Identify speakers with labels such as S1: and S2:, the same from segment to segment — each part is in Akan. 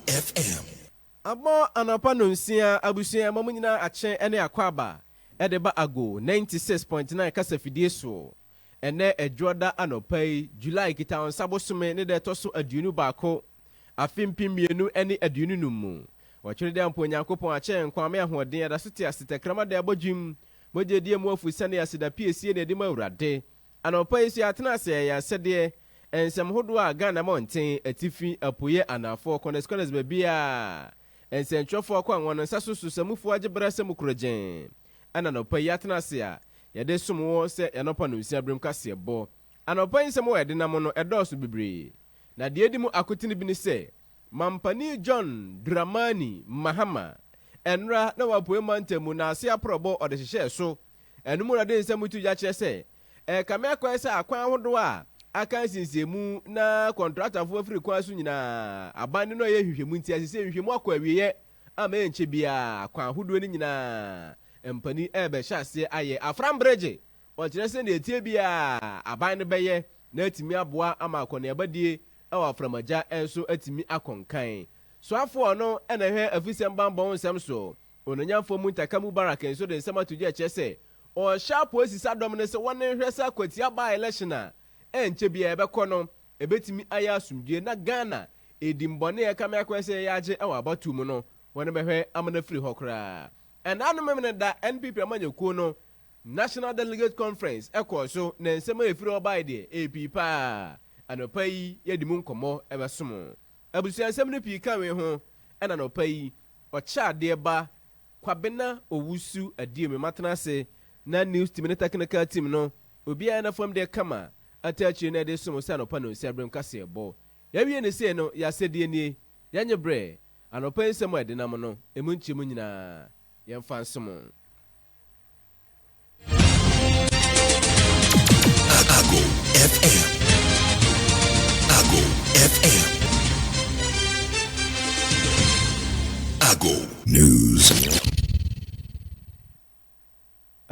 S1: FM. Abɔ
S2: anɔpa nonsia abusua ɛma mo nyinaa akye ɛne akwaaba ɛde ba Ago ninety six point nine kasafidie soɔ ɛnɛ Adwoɔda anɔpa yi July Kitawonsa bosome ne da ɛtɔ so aduonu baako afe mpem mmienu ɛne aduonu num mu Ɔtwere de ampa Onyankopɔn akyɛ yɛn nkwa ame ahoɔden adaso te ase tɛkrɛma da ɛbɔ dwim mogya ɛdi amu afu sane aseda piesie na ɛde ma Awurade Anɔpa yi nso yɛatena ase ayɛ asɛdeɛ nsɛm hodoɔ a Ghana mmɔnten, atifi, apueɛ, anaafoɔ, kɔnɛs kɔnɛs baabiara a nsɛntwerɛfoɔ akɔ anwa no nsa so so sɛ mufoɔ agye berɛ sɛ mokuro gyenn ɛna anɔpa yi yɛatena ase a yɛde resom wo sɛ yɛanɔpa nonsia berem kaseɛbɔ. Anɔpa yi nsɛm a yɛde nam no ɛdɔɔso bebree na deɛ ɛdi mu akotene bi ne sɛ Mampani John Dramani Mahama, ɛnnora na wɔ Apueɛ Mantam mu, n'ase aprɔbɔ ɔde hyehyɛɛ so Ɛno mu na ɔde nsɛm to gya kyerɛ sɛ ɛrekame akwan sɛ akwan ahodoɔ a aka nsiesiee mu na kɔntratafoɔ afiri kwan so nyinaa aban de no ɛyɛ nhwehwɛmu nti ɛsɛ sɛ nhwehwɛmu akɔ awieɛ ama ɛnkyɛ biara akwan ahodoɔ no nyinaa mpani ɛrebɛhyɛ aseɛ ayɛ afram bregye ɔkyerɛ sɛ deɛ ɛteɛ biara aban no bɛyɛ na atumi aboa ama akɔneabadie ɛwɔ aframagya nso atumi akɔ nkan soafoɔ no ɛna ɛhwɛ afisɛm banbɔ ho nsɛm so Onanyamfoɔ Muntaka Mubarak nso de nsɛm ato dwa kyerɛ sɛ ɔrehyɛ apolisisa dɔm no sɛ wɔn nhwɛ sɛ akwatia by election a ɛnkyɛ biara ɛbɛkɔ no ɛbɛtumi ayɛ asomdwoeɛ na Ghana ɛdin bɔne a ɛkame akɔyɛ sɛ yɛyɛ agye wɔ abatoɔ mu no wɔn bɛhwɛ ama no afiri hɔ koraa. Ɛnna no Memeneda NPP amanyɔkuo no National Delegate Conference ɛkɔɔ so na nsɛm a ɛfiri hɔ baeɛ deɛ ɛyɛ pii pa ara. Anɔpa yi yɛde mu nkɔmmɔ ɛbɛso mo. Abusua nsɛm no pii ka wei ho ɛna anɔpa yi Ɔkyɛadeɛ ba, Kwabena Owusu Adiemi matena ase na news team ne technical team no obiara na fam deɛ kama ata akyire na ɛde som wo sɛ anɔpa nonsia berɛ mu kaseɛbɔ. Yɛawie no sei no, yɛ asɛdeɛ nie, yɛnye berɛ, anɔpa yi nsɛm a ɛdenam no, ɛmu nkyɛmu nyinaa yɛmfa nsom.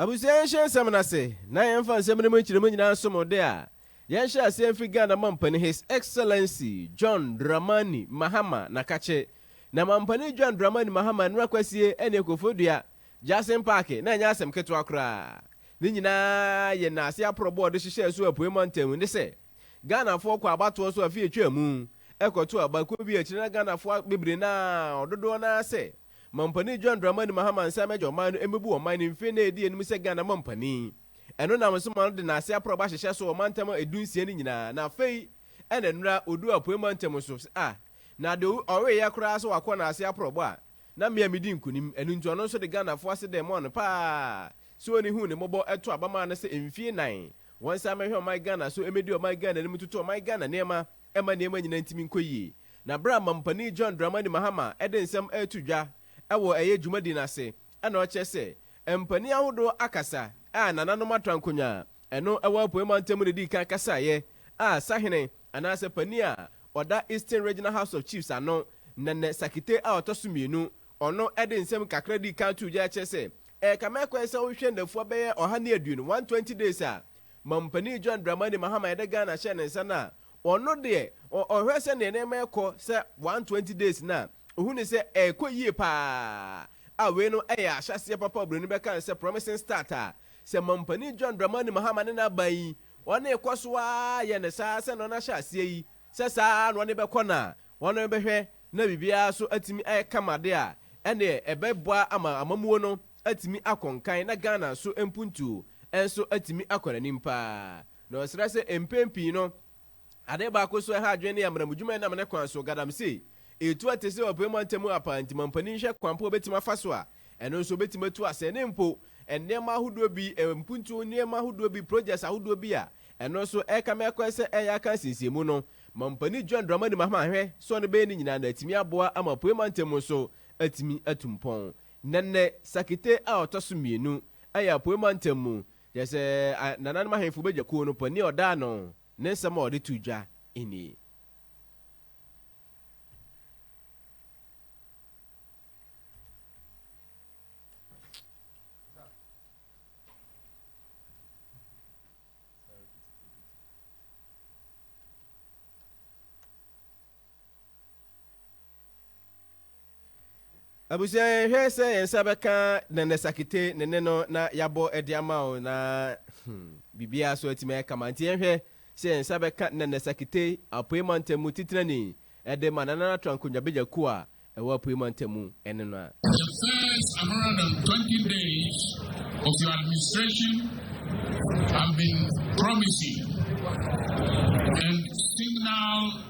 S2: abusua yɛnhyɛ nsɛm no ase na yɛmfa nsɛm no mu nkyerɛmu nyinaa som de a yɛnhyɛ aseɛ mfi ghana mampani his excellency john dramani mahama nakakye na mampani john dramani mahama nnora kwasie ɛne akofodua Jackson Park na ɛnyɛ asɛm ketewa koraa. Ne nyinaa yɛ nnaase aporɔbɔ a ɔde hyehyɛɛ so Apuei Mantam ne sɛ, Ghanafoɔ kɔ abatoɔ so afe a ɛtwaa mu, ɛkɔto aba, kuo bi a akyire na Ghanafoɔ abibire na ɔdodoɔ no ara sɛ Mampanin John Dramani Mahama nsa mmɛgya ɔman no mmɛbu ɔman no mfe nnan a ɛdi anim sɛ Ghana Mampanin. Ɛno nam so ma ɔde nnaase aporɔbɔ ahyehyɛ so wɔ mantam a ɛdu nsia no nyinaa na afei ɛna nnora ɔduu Apuei Mantam so a na deɛ ɔweeɛ koraa sɛ wakɔ nnaase aporɔbɔ a Na me a medi nkunim, ɛno nti ɔno nso de Ghanafoɔ asedɛɛ maa no pa ara. Sɛ ɔnni hu ne mmɔbɔ ɛto aba maa no sɛ mfie nnan, wɔn san mɛhwɛ ɔman Ghana so ɛmɛdi ɔman Ghana anim toto ɔman Ghana nneɛma ɛma nneɛma nyinaa ntumi nkɔ yie. Na berɛ a Mampani John Dramani Mahama ɛde nsɛm ɛreto dwa ɛwɔ ɛyɛ dwumadi no ase ɛna ɔkyerɛ sɛ mpanin ahodoɔ akasa a nananom atra nkonwa Ɛno wɔ Apuei Mantam na edii kan kasaeɛ a sahene anaasɛ panin a ɔda Eastern Regional House of Chiefs ano, Nene Sakite a ɔtɔ so mmienu, ɔno de nsɛm kakra dii kan too gya kyerɛ sɛ ɛrekame akwan sɛ wohwehwɛ nnafua bɛyɛ ɔha ne aduonu, 120 days, a Mampanin John Dramani Mahama yɛde Ghana hyɛɛ ne nsa no a ɔno deɛ ɔhwɛ sɛdeɛ nneɛma rekɔ sɛ 120 days no a ɔhu ne sɛ ɛrekɔ yie paa a wei no yɛ ahyɛaseɛ papa a Oburoni bɛka no sɛ promising start a Sɛ Mampanin John Dramani Mahama ne n'aban yi, wɔne kɔ so ara yɛ no saa sɛnea wɔn ahyɛ aseɛ yi, sɛ saa ara na wɔne bɛkɔ no a, wɔne bɛhwɛ na biribiara so atumi ayɛ kama de a, ɛneɛ ɛbɛboa ama amammuo no atumi akɔ nkan na Ghana so mpuntuo nso atumi akɔ n'anim paa. Na ɔsrɛ sɛ mpɛn pii no, Ade baako so a ɛha adwene ne amanamudwuma a ɛnam ne kwan so, galamsey, retu ate sɛ ɔpɛ mu ntɛm ara paa nti ma mpanin nhwɛ kwan pa a obetumi afa so a ɛno nso obetumi atu asɛe ne mpo nneɛma ahodoɔ bi, mpuntuo nneɛma ahodoɔ bi, projects ahodoɔ bi a ɛno nso ɛrekame akɔɛ sɛ ɛreyɛ aka nsiesiɛ mu no. Ma mpanin John Dramani Mahama nhwɛ sɛ ɔno bɛyɛ ne nyinaa na atumi aboa ama Apueɛ mantam nso atumi atu mpɔn. Nɛnɛ Sakite a ɔtɔ so mmienu ɛyɛ Apueɛ mantam mu Kyerɛ sɛ, nananom ahemfo bagya kuw no panyin a ɔda ano ne nsɛm a ɔde too dwa ni. Abusua, yɛnhwɛ sɛ yɛn nsa bɛka Nana Sakite ne ne no na yɛabɔ de ama wo na hmm, biribiara so atumi ayɛ kama. Nti yɛnhwɛ sɛ yɛn nsa bɛka Nana Sakite Apuei Mantamu titirani de ma Nana Natra Nkongyabagya kuo a ɛwɔ Apuei Mantamu ne no a. For
S3: the first 120 days of your administration have been promising and signal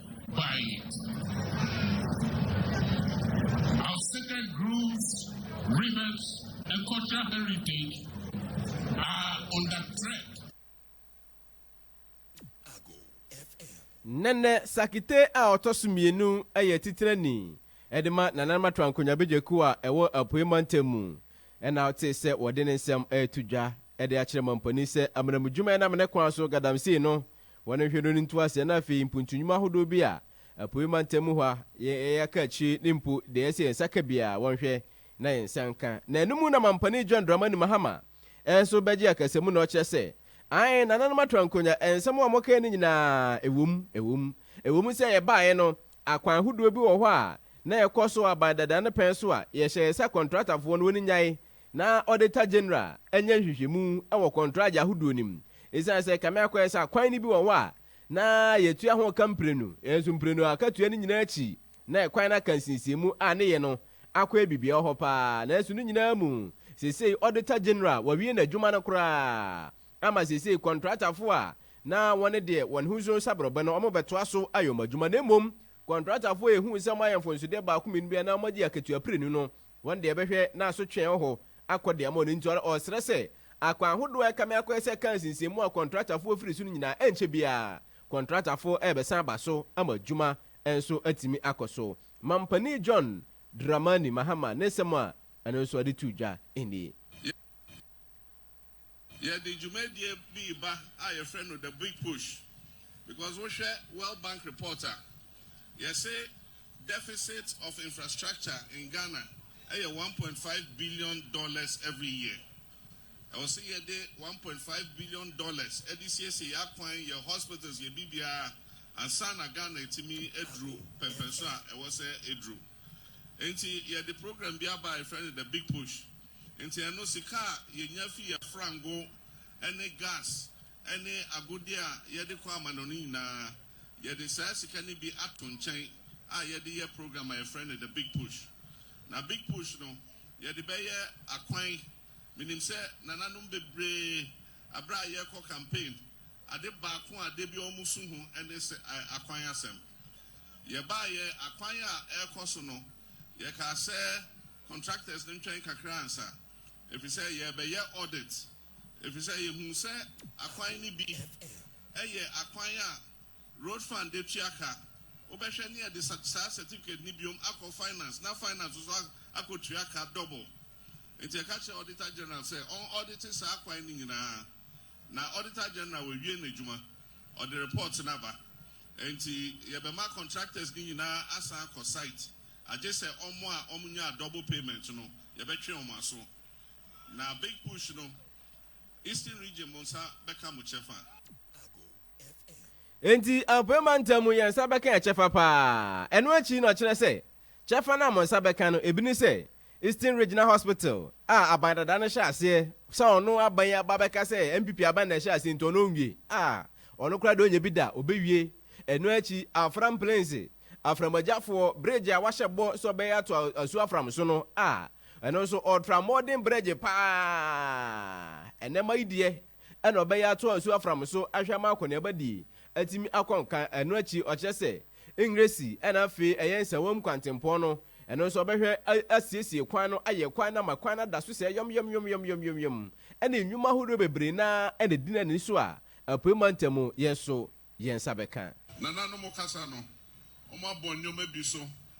S1: Nene
S2: Sakite a ɔtɔ so mmienu yɛ titenani de ma Nana Martoa Nkonyabeja kuo a ɛwɔ Apuei Mantam mu na wotee sɛ wɔde ne nsɛm reto dwa de akyerɛ mampanin sɛ amanamudwuma a ɛnam ne kwan so galamsey no Wɔn nhwɛ no ne ntoaseɛ na afei mpuntu nnwuma ahodoɔ bi a Apuei Mantam mu hɔ a yɛn yɛ aka akyire ne mpo deɛ ɛsɛ yɛn nsa ka biara wɔnhwɛ na yɛn nsa nka. Na ɛno mu na Mampane John Dramani Mahama nso bɛgye akasamu na ɔkyerɛ sɛ, Aane, Nananom Atrankonnwa, nsɛm a mokae no nyinaa, ɛwɔ mu, ɛwɔ mu. Ɛwɔ mu sɛ yɛbaeɛ no, akwan ahodoɔ bi wɔ hɔ a na yɛkɔ so aban dada no pɛn so a yɛhyɛ yɛn nsa kɔntratafoɔ no wɔn nnyae Na Auditor General anya nhwehwɛmu wɔ kɔntragye ahodoɔ no mu. Esiane sɛ kame akɔyɛ sɛ akwan no bi wɔ hɔ a na yɛtua ho ka mprenu, nanso mprenu a akatua no nyinaa akyi na ɛkwan no aka nsiesiemu a ne yɛ no akɔyɛ biribiara hɔ pa ara. Nanso ne nyinaa mu, seesei Auditor General wawie n'adwuma no koraa ama seesei kɔntratafoɔ a na wɔne deɛ wɔn ho nso sa borɔbɛ no wɔbɛtoa so ayɛ wɔn adwuma. Na mmom kɔntratafoɔ a yɛhuu sɛ wɔayɛ mfomsodeɛ baako mmienu bi a na wɔagye akatua prenu no Wɔn deɛ bɛhwɛ na asotwee wɔ hɔ akɔ de ama wɔn nti ɔresrɛ sɛ akwan ahodoɔ a ɛkame akɔ yɛ sɛ car nsinsɛn mu a kɔntratafoɔ firi so no nyinaa ɛnkyɛ biara kɔntratafoɔ rebɛsan aba so ama adwuma nso atumi akɔ so. Mampanin John Dramani Mahama ne nsɛm a ɛno nso ɛde too dwa nie.
S4: Yɛde dwumadie bi reba a yɛfrɛ no The Big Push because wohwɛ World Bank report a, yɛse deficit of infrastructure in Ghana yɛ one point five billion dollars every year. Ɛwɔ se yɛde one point five billion dollars de siesie yɛn akwan, yɛn hospitals, yɛn biribiara ansa na Ghana atumi aduru pɛmpɛnso a ɛwɔ sɛ ɛduru. Enti yɛde program bi aba a yɛfrɛ no The Big Push. Enti ɛno sika a yɛnya fi yɛn frango ne gas ne agodeɛ a yɛde kɔ amanɔne nyinaa, yɛde saa sika no bi ato nkyɛn a yɛde yɛ program a yɛfrɛ no The Big Push. Na Big Push no, yɛde bɛyɛ akwan. Menim sɛ nananom bebree, berɛ a yɛrekɔ campaign, ade baako a da biara wɔsu ho ne akwan asɛm. Yɛbaeɛ, akwan a ɛrekɔ so no, yɛkaa sɛ contractors no ntwɛn kakra ansa, ɛfiri sɛ yɛrebɛyɛ audit, ɛfiri sɛ yɛhuu sɛ akwan no bi yɛ akwan a Road Fund de tua ka, wobɛhwɛ ne yɛde saa certificate no biom akɔ finance na finance nso akɔtua ka double. Nti yɛka kyerɛɛ Auditor General sɛ ɔn audite saa akwan no nyinaa, na Auditor General wawie n'adwuma, ɔde report no aba. Enti yɛbɛma contractors no nyinaa asan akɔ site agye sɛ wɔn a wɔnyaa double payment no yɛbɛtwe wɔn aso. Na big push no, Eastern Region mo nsa bɛka mo kyɛfa.
S2: Enti Apuei Mantam mu yɛn nsa bɛka yɛn kyɛfa paa. Ɛno akyi no ɔkyerɛ sɛ kyɛfa no a mo nsa bɛka no ebi ne sɛ Eastern Regional Hospital a aban dada no hyɛ aseɛ sɛ ɔno aban yi aba bɛka sɛ NPP aban na ɛhyɛ aseɛ nti ɔno ɔnwie a, ɔno koraa deɛ ɔnnya bi da, ɔbɛwie. Ɛno akyi, Afram Plains aframagyafoɔ bregye a wahyɛ bɔ sɛ ɔbɛyɛ ato asuo Afram so no a, ɛno nso ɔretra mmɔɔden bregye pa ara. Ɛnnɛma yi deɛ ɛna ɔbɛyɛ ato asuo Afram so ahwɛ ama akɔneabadie atumi akɔ nka. Ɛno akyi, ɔkyerɛ sɛ Ngresi ɛna afei ɛyɛ Nsawam kwantempɔn no Ɛno nso ɔbɛhwɛ asiesie kwan no, ayɛ kwan no ama kwan no ada so sɛɛ yɔmyɔmyɔmyɔmyɔmyɔm. Ɛne nnwuma ahodoɔ bebree no ara na ɛdi no ani so a Apuei Mantam mu yɛn nso yɛn nsa bɛka. Nananom kasa
S4: no, wɔabɔ nneɛma bi so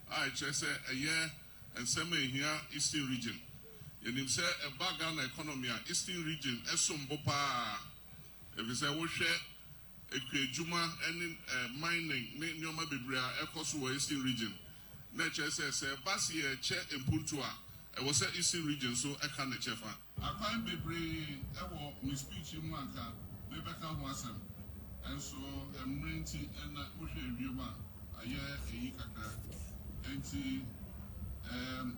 S4: a ɛkyerɛ sɛ ɛyɛ nsɛm a ɛhia Eastern Region. Yɛnim sɛ ɛba Ghana economy a, Eastern Region som bo pa ara, ɛfiri sɛ wohwɛ Ekua adwuma ne mining ne nneɛma bebree a ɛkɔ so wɔ Eastern Region. Na ɛkyerɛ sɛ, sɛ ɛba se yɛrekyɛ mpuntuo a, ɛwɔ sɛ Eastern Region nso ka ne kyɛfa. Akwan bebree wɔ me speech yi mu a anka mebɛka ho asɛm, nso mmerɛ nti na wohwɛ wiem a ayɛ ayi kakra. Enti eeh.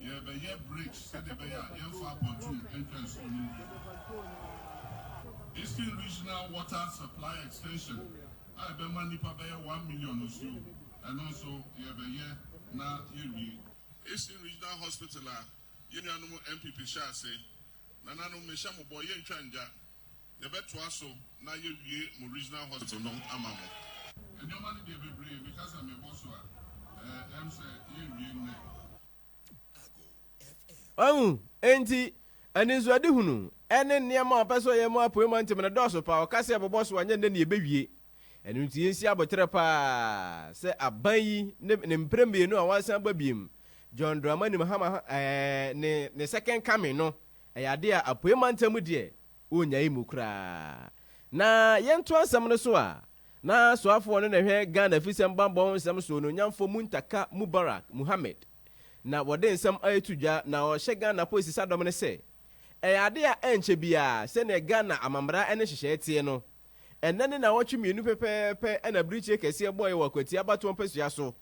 S4: Yɛrebɛyɛ bridge sɛdeɛ ɛbɛyɛ a yɛremfa apɔntuu ntwa nsuo no nwie. Eastern Regional Water Supply Extension a ɛbɛma nnipa bɛyɛ one million nsuo, ɛno nso yɛrebɛyɛ na yɛawie. Eastern Regional Hospital a yɛn nuanom NPP hyɛɛ ase, Nananom mehyɛ mo bɔ, yɛntwa ngya, Yɛbɛtoa so na yɛwie mo Regional Hospital no ama mo. Nneɛma no deɛ bebree, meka sɛ mebɔ
S2: so a, ɛm sɛ yɛnwie nnɛ. Wahu? Enti, anisoadehunu ne nneɛma a ɔpɛ sɛ ɔyɛ ma Apuei Mantam no dɔɔso paa. Ɔka sɛ yɛbɛbɔ so a, ɛnyɛ nnɛ na yɛbɛwie. Ɛno nti, yɛnsi aboterɛ paa sɛ aban yi ne ne mprɛ mmienu a wɔasan aba bio, John Dramani Mahama ne ne second coming no, Ɛyɛ ade a Apuei Mantam deɛ wɔnnyae mu koraa. Na yɛntoa nsɛm no so a, na soafoɔ no na ɛhwɛ Ghana Afisɛm Bammɔ ho nsɛm so, Onuonyamfoɔ Muntaka Mubarak Muhammed na wɔde nsɛm reto dwa na ɔrehyɛ Ghana Apolisisadɔm no sɛ, Ɛyɛ ade a ɛnkyɛ biara sɛdeɛ Ghana amammara ne nhyehyɛe teɛ no, ɛnnɛ ne nnawɔtwe mmienu pɛpɛɛpɛ na abirekyie kɛseɛ bɔeɛ wɔ Akwatia abatoɔ mpasua so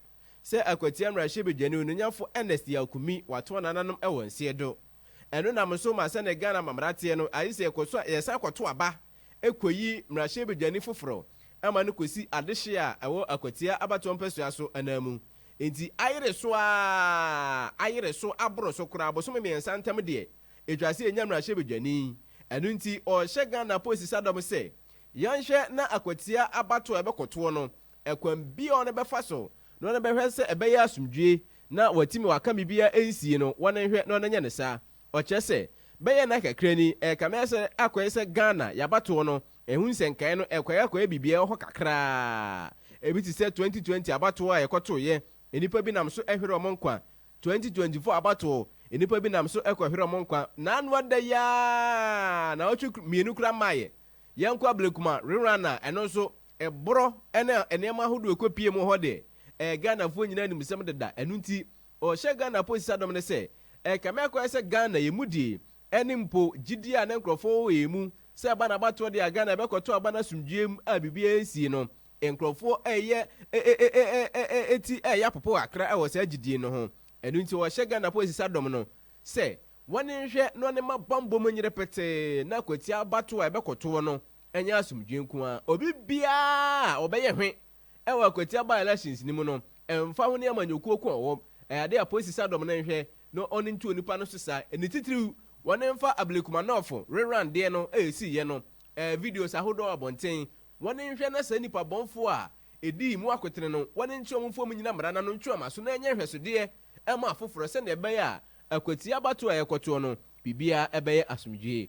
S2: sɛ Akwatia Mmarahyɛbadwani Onuonyamfo Ernest Yaw Kumi watɔn nananom wɔ nseɛdo. Ɛno nam nso ma sɛdeɛ Ghana amammerɛ teɛ no, ayɛ sɛ yɛkɔ so a, yɛsan kɔto aba kɔyi mmarahyɛbadwani foforɔ ma no kɔsi adehyeɛ a ɛwɔ Akwatia abatoɔ mpasua so ananmu. Enti ayere so ara, ayere so aboro so koraa, bosome mmiɛnsa ntam deɛ, ɛtwa sɛ yɛnya mmarahyɛbadwani. Ɛno nti ɔrehyɛ Ghana apolisisadɔm sɛ, yɛnhwɛ na Akwatia abatoɔ a yɛbɛkɔtoɔ no, Ɛkwan biara a wɔbɛfa so na wɔbɛhwɛ sɛ ɛbɛyɛ asomdwoe na wɔatumi wɔaka biribiara ansie no, wɔnhwɛ na wɔnyɛ no saa. Ɔkyerɛ sɛ, Bɛyɛ nna kakra ni, ɛrekame ayɛ sɛ akɔyɛ sɛ Ghana, yɛabatow no. Ɛho nsɛnkae no, ɛkɔe akɔyɛ biribiara wɔ hɔ kakraa. Ebi te sɛ 2020 abatow a yɛkɔtoeɛ, nnipa bi nam so hweree wɔn nkwa. 2024 abatow, nnipa bi nam so kɔhweree wɔn nkwa. Na ano ada yi ara, nnawɔtwe mmienu koraa mmaeɛ. Yɛnkɔ Ablekuma Rerun a, ɛno nso, Ɛborɔ ne nneɛma ahodoɔ a ɛkɔpie mu hɔ deɛ, ɛyɛ Ghanafoɔ nyinaa animsɛm deda. Ɛno nti, ɔhyɛ Ghana aposisadɔm no sɛ, ɛrekame akɔyɛ sɛ Ghana yɛn mu die, ɛne mpo gyidie a na nkurɔfoɔ wɔ wɔ yɛn mu sɛ ɛba no abatoɔ deɛ a Ghana ɛbɛkɔto aba no asomdwoeɛ mu a biribiara nsii no, nkurɔfoɔ reyɛ ti reyɛ apopo kakra wɔ saa gyidie no ho. Ɛno nti, ɔhyɛ Ghana aposisadɔm no sɛ, wɔne nhwɛ na wɔne ma bammɔ mu nyere petee na kwatia abatoɔ a ɛbɛkɔtoɔ no Ɛnyɛ asomdwoe nko ara. Obi biara a ɔbɛyɛ hwe wɔ Akwatia by-elections no mu no, ɛmfa ho ne amanyɔkuo ko a ɔwɔm, ɛyɛ adeɛ a Apolisi Sadɔm no nhwɛ na ɔno ntu onipa no so saa. Ne titiriw, wɔn mfa Ablekumanɔfo reran deɛ no a ɛsiiɛ no ɛɛ videos ahodoɔ wɔ abɔnten. Wɔn nhwɛ na saa nnipa bɔnfoɔ a ɛdii mu akotene no, wɔn nkyerɛ wɔn mfom nnyina mmara no ano ntwe wɔn aso na ɛnyɛ nhwɛsodeɛ mma afoforɔ sɛdeɛ ɛbɛyɛ a Akwatia abatoɔ a yɛkɔtoɔ no, biribiara bɛyɛ asomdwoe.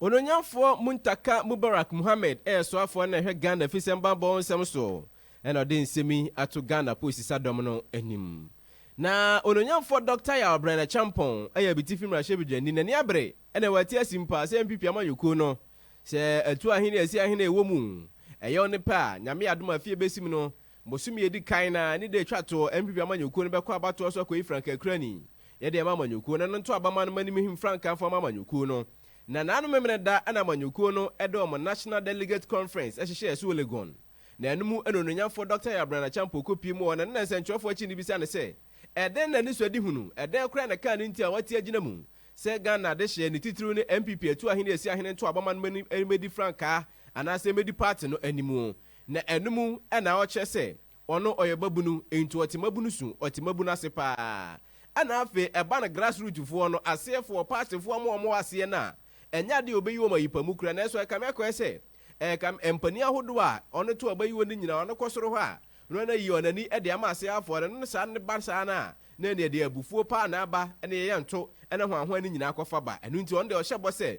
S2: Onuonyamfoɔ Muntaka Mubarak Mohammed yɛ soafoɔ na ɛhwɛ Ghana afisɛm bammɔ nsɛm so na ɔde nsɛm yi ato Ghana Aposisadɔm no anim. Na Onuonyamfoɔ Dɔkta Yaw Brɛna Kyampɔn yɛ Abitifi Mmarahyɛbedwani na niabere na wate asi mpa sɛ NPP amanyɔkuo no sɛ atu ahene a ɛsi ahene a ɛwɔ mu ɛyɛ ɔne pɛ a Nyame yɛ adom a afie bɛsim no Bosome a ɛdi kan no ara, ne da a ɛtwa toɔ, MPP amanyɔkuo no bɛkɔ abatoɔ so akɔyi frankakurani. Yɛde ama amanyɔkuo no, ɛno nto aba mma no mma nim him frankamfoɔ mma amanyɔkuo no. Nnananom Memeneda na amanyɔkuo no de wɔn National Delegate Conference hyehyɛɛ so wɔ Legon. Na ɛno mu na Onuonyamfoɔ Dɔkta Yabrand Acheampong kɔpie mu wɔ na ne na nsɛnkyerɛwfoɔ akyi no bisa no sɛ, Ɛdɛn na anisoadehunu, ɛdɛn koraa na ɛkaa no nti a wate agyina mu sɛ Ghana adehyeɛ, ne titiriw ne MPP atuahene asiahene ntoabamma no mmɛdi frankaa anaasɛ mmɛdi party no animuo? Na ɛno mu na ɔkyerɛ sɛ ɔno ɔyɛ ɔbabunu, nti ɔte mmabunu su, ɔte mmabunu ase paa. Ɛna afei ɛba no grass root foɔ no, aseɛ foɔ, party foɔ mo a wɔwɔ aseɛ no a, ɛnyɛ adeɛ a ɔbɛyi wɔn ayi pa mu koraa, nanso ɛkame akɔyɛ sɛ ɛkame, mpanin ahodoɔ a ɔno to a ɔbɛyi wɔn no nyinaa, ɔno kɔ soro hɔ a, na ɔno ayi wɔn ani de ama aseɛ afoɔ no, na saa no ba saa no a, na ɛneɛ deɛ abufuo paa na aba, ɛna yɛyɛ nto, ɛna hwanhwan no nyinaa kɔfa ba, ɛno nti ɔno deɛ ɔhyɛ bɔ sɛ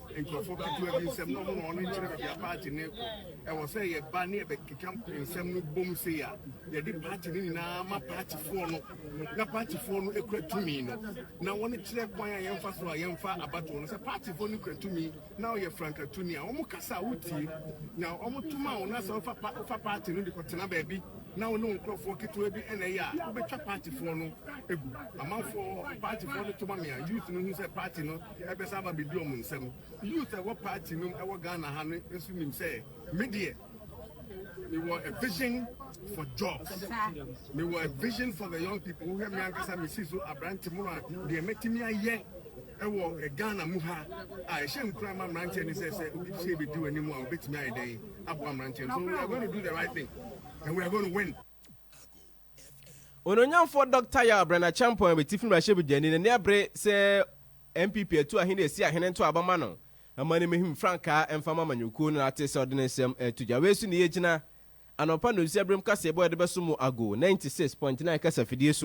S5: Nkurɔfoɔ ketewa bi nsɛm na wɔn na wɔn kyerɛ baabi a paati no rekɔ. Ɛwɔ sɛ yɛba ne yɛbɛkeka nsɛm no bom sei a yɛde paati no nyinaa ma paatifoɔ no na paatifoɔ no kura tumi no na wɔn kyerɛ kwan a yɛmfa so a yɛmfa abatoɔ no. Sɛ paatifoɔ no kura tumi na wɔyɛ frankatuni a wɔn kasa a wotie na wɔn to ma wo na sɛ wofa pa wofa paati no de kɔtena baabi na wo ne wo nkurɔfoɔ ketewa bi na ɛyɛ a wobɛtwa paatifoɔ no egu. Amanfoɔ paatifoɔ no to ma me a youth no hu sɛ paati no Ɛbɛsan aba abedi wɔn nsam. Youth a ɛwɔ party no mu wɔ Ghana ha no nso nim sɛ me deɛ mewɔ a vision for jobs. Mewɔ a vision for the young people. Wohwɛ me ankasa mesi so aberante mu a deɛ mɛtumi ayɛ ɛwɔ eh, Ghana mu ha a ɛhyɛ nkura ma mmeranteɛ ne sɛ sɛ obi sɛ bɛdi w'anim a wobɛtumi ayɛ dɛn aboa mmeranteɛ no so we are going to do the right thing and we are going to win
S2: Onuonyamfoɔ Dɔkta Yaw Brenna-Acheampong yɛ Atifi Mmarahyɛbedwani na ne abere sɛ NPP atu ahene a ɛsi ahene ntoa bɛma no mma no mmehim frankaa mfa mma amanyɔkuo no na ate sɛ ɔde ne nsɛm reto dwa. Wei so na yɛgyina. Anɔpa nonsua birom kaseɛbɔ a yɛde bɛso mo ago 96.9 kasafidie so.